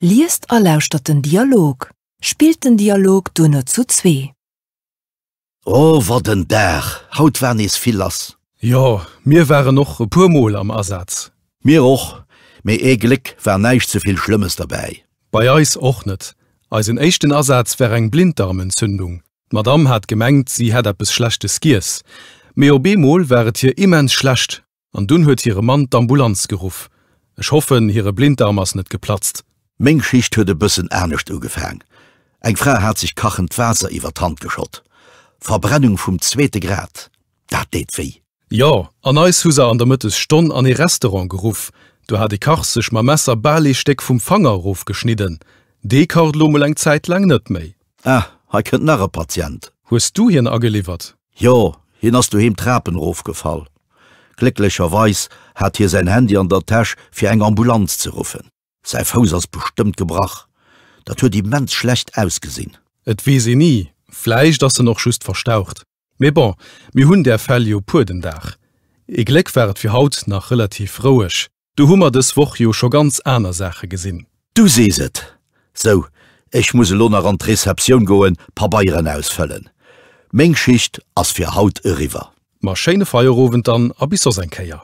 Liest a lauschtert den Dialog. Spillt den Dialog duerno zu zwee. O wat en Dag, haut war nees vill lass. Jo, mir waren och e puer mol am Asaz. Mir och, mee ee Gléck war näischt ze vill Schlëmmes derbäi. Bei eis och net. Eisen éischten Asaz war eng Blinddarmentzündung. D'Madame hat gemengt, si hätt eppes Schlechtes giess, mee op eemol war et hir immens schlecht. An dunn huet hire Mann d'Ambulanz geruff. Ech hoffen, hire Blindarm ass net geplatzt. Meng Schicht huet e bëssen anescht ugefaang. Eng Fra hat sech kachend Waasser iwwer d'Hand geschott. Verbrennung vum zweete Grad, dat deet wéi. Jo, an eis hu se an der Mëttesstonn an ee Restaurant geruff. Do hat e Kach sech mam Messer bal ee Stéck vum Fanger erofgeschnidden. Dee kacht elo mol eng Zäit laang net méi. Ah, hei kënnt nach e Patient. Hues du hien ageliwwert? Jo, hien ass doheem d'Trapen erofgefall. Glécklecherweis hat hie säin Handy an der Täsch, fir eng Ambulanz ze ruffen. Säi Fouss ass bestëmmt gebrach, dat huet immens schlecht ausgesinn. Et weess een ni, vläicht ass en och just verstaucht. Mee bon, mir hunn där Fäll jo puer den Dag. Ee Gléck war et fir haut nach relativ roueg. Do hu mer dës Woch jo scho ganz aner Saache gesinn. Du sees et! Sou, ech muss elo nach an d'Receptioun goen, Pabeieren ausfëllen. Meng Schicht ass fir haut eriwwer. Ma schéine Feierowend dann a bis soss eng Kéier.